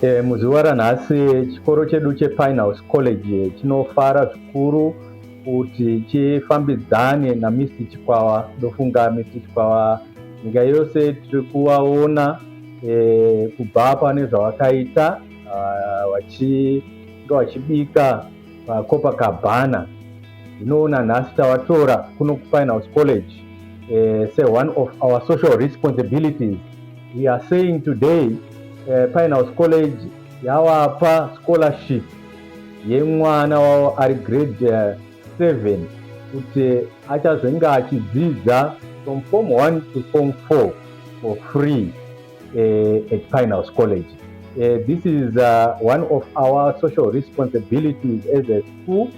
E, muzuva ranhasi chikoro chedu chepinehouse college chinofara zvikuru kuti chifambidzane namisi chikwawa ndofunga misi chikwawa nyika yose tiri kuvaona e, kubva pane zvavakaita ah, vachibika pacopacabana ndinoona nhasi tavatora kuno kufine house college uh, say one of our social responsibilities we are saying today uh, eh, fine house college yawapa scholarship yemwana wavo ari grade uh, seven kuti achazenge achidzidza from form one to form four for free uh, at Pine House College. Uh, this is uh, one of our social responsibilities as a school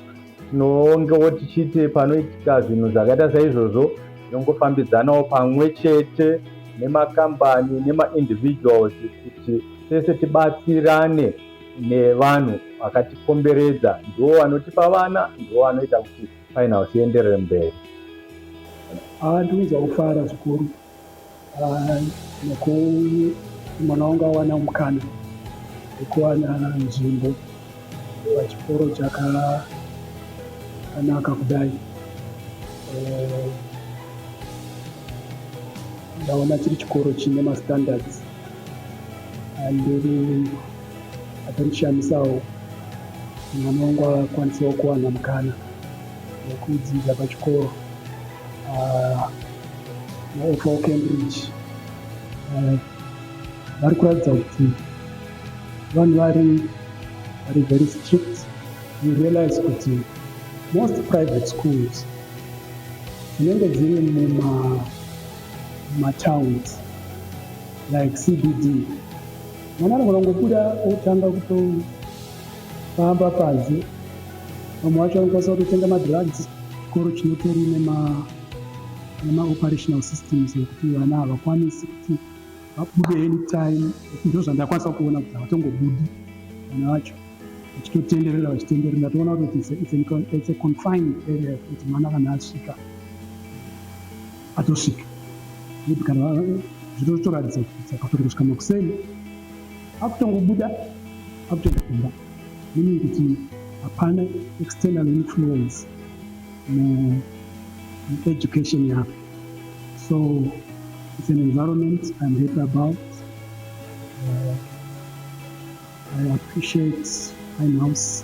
tinongewo tichiite panoitika zvinhu zvakaita saizvozvo tinongofambidzanawo pamwe chete nemakambani nemaindividuals kuti tese tibatsirane nevanhu vakatikomberedza ndiwo vanotipa vana ndiwo vanoita kuti final sienderere mberi haa ah, ndinoza kufara zvikuru Ah, nokuti mwana wangu awana mukana wekuwana nzvimbo pachikoro chakanaka kudai eh, ndaona chiri chikoro chine mastandards andiri atarishamisawo mwana wangu akwanisawo kuwana mukana wekudzidza pachikoro vaifa uh, cambridge uh, vari kuratidza kuti vanhu vari vari very strict you realize kuti most private schools dzinenge dziri muma mumatowns like cbd mwana anogona ngobuda otanga kuto pamba panze vamwe vacho vanokwanisa kutotenga madrugs chikoro chinotori nemaoperational systems ekuti vana havakwanisi kuti vabude any time ndo zvandakwanisa kuona kuti havatongobudi vana vacho vachitotenderera vachitenderera ndatoona kuti it's a confined area kuti mwana kana asvika atosvika kana zvitotoratidza kuti akatori kusvika makuseni akutongobuda akutoenda kumba meaning kuti hapana external influence mueducation yako so it's an environment i'm happy about uh, i appreciate my house